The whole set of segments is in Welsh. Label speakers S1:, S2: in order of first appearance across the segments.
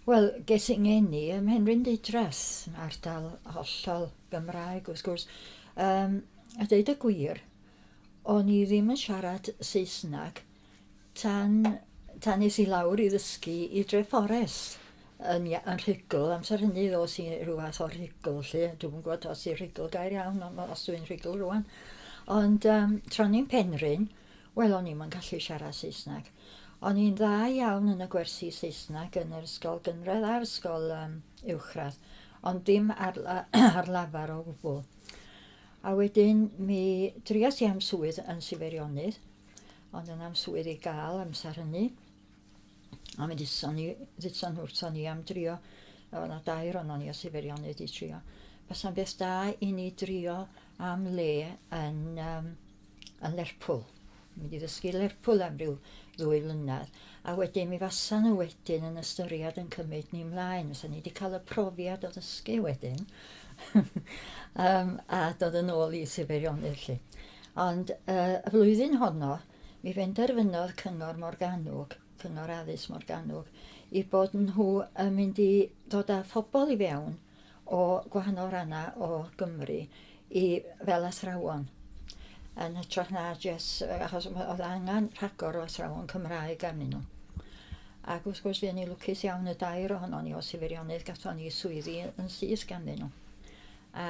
S1: Wel, ges i ngeni ym Mhenrhyn Didras, ardal hollol Gymraeg wrth gwrs. Um, a dweud y gwir, o'n i ddim yn siarad Saesneg tan, tan nes i lawr i ddysgu i Drefores yn, yn rhugl. Amser hynny ddos i rhyw fath o rhugl, lle. Dwi'n gwybod os i'n rhugl gair iawn, ond os dwi'n rhugl rwan. Ond um, tron i'n penryn, Wel o'n i'm yn gallu siarad Saesneg. O'n i'n dda iawn yn y gwersi Saesneg yn yr ysgol gynradd a'r ysgol um, uwchradd, ond dim ar, ar lafar o gwbl. A wedyn mi drias i am swydd yn Siferionydd, ond yn am swydd i gael amser hynny. A mi dditson ni, dditson wrthon ni am drio, oedd yna dair o'n ni o sifirionydd i trio. Bysa'n beth da i ni drio am le yn, um, yn Lerpwl. Mi wedi ddysgu Lerpwl am ryw ddwy flynedd. A wedyn mi fasa nhw wedyn yn ystyried yn cymryd ni mlaen. Fysa ni wedi cael y profiad o ddysgu wedyn. um, a dod yn ôl i sifirionydd lle. Ond uh, y flwyddyn honno, Mi benderfynodd Cyngor Morgannwg, Cyngor Addysg Morgannwg, i bod nhw yn mynd i dod â phobl i fewn o gwahanol rannau o Gymru i fel athrawon yn hytrach na jes, achos oedd angen rhagor o athrawon Cymraeg arnyn nhw. Ac wrth gwrs, fuon ni lwcus iawn y dair ohonon ni o Sifirionnydd, gatho ni swyddi yn syth ganddyn nhw. A,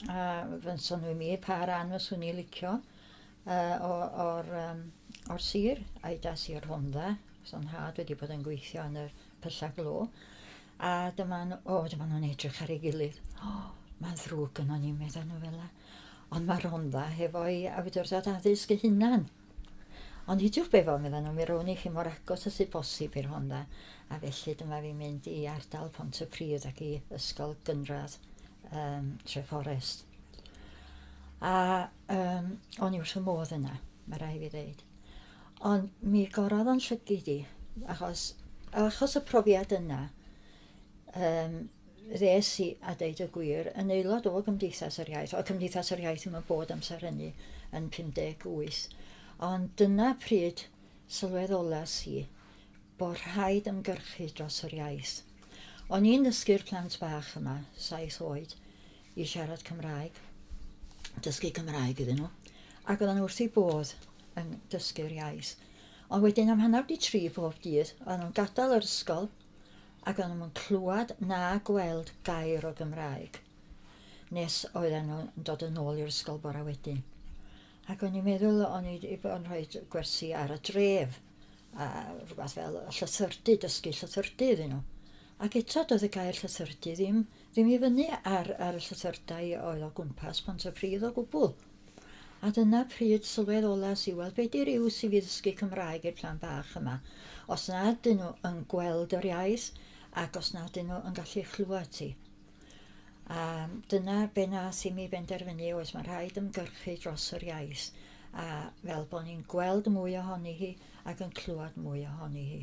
S1: a fynson nhw i mi pa ran fyswn ni licio, Yy o o'r yym o'r sir a'i das i'r Rhondda, achos o'n nhad wedi bod yn gweithio yn yr Pyllau Glo. A dyma nhw, o dyma nhw'n edrych ar ei gilydd. O, mae'n ddrwg gynnon ni, meddai nhw fel 'na. Ond mae'r Rhondda hefo'i awdurdod addysg ei hunan. Ond nid yw'r befo, meddai nhw, mi rown i chi mor agos â sydd bosib i'r Rhondda, a felly dyma fi'n mynd i ardal Pont y Pridd ac i ysgol gynradd um, Tre Fforest. A Um, o'n i wrth y modd yna, mae rai fi ddeud. Ond mi gorodd o'n llygid i, achos, achos y profiad yna, um, ddes i, a deud y gwir, yn aelod o Gymdeithas yr Iaith, o Cymdeithas yr Iaith yma bod amser hynny yn 58. Ond dyna pryd sylwedd olas i bod rhaid ymgyrchu dros yr iaith. O'n i'n dysgu'r plant bach yma, saith oed, i siarad Cymraeg, dysgu Cymraeg iddyn nhw, ac oedden nhw wrth eu bodd yn dysgu'r iaith. Ond wedyn am hanner di tri bob dydd, oedden nhw'n gadael yr ysgol ac oedden nhw'n clywed na gweld gair o Gymraeg nes oedden nhw'n dod yn ôl i'r ysgol bora wedyn. Ac o'n i'n meddwl o'n i wedi bod yn rhoi gwersi ar y dref a rhywbeth fel llythyrdy, dysgu llythyrdy iddyn nhw. Ac eto doedd y gair llythyrdy ddim Ddim i fyny ar, ar y llythyrtau oedd o gwmpas Pontypridd o gwbl. A dyna pryd sylwedd olas i weld be di ryw sydd i ddysgu Cymraeg i'r plan bach yma. Os na dyn nhw yn gweld yr iaith ac os na dyn nhw yn gallu chlywed ti. A dyna be nath i mi benderfynu oes mae rhaid ymgyrchu dros yr iaith a fel bod ni'n gweld mwy ohoni hi ac yn clywed mwy ohoni hi.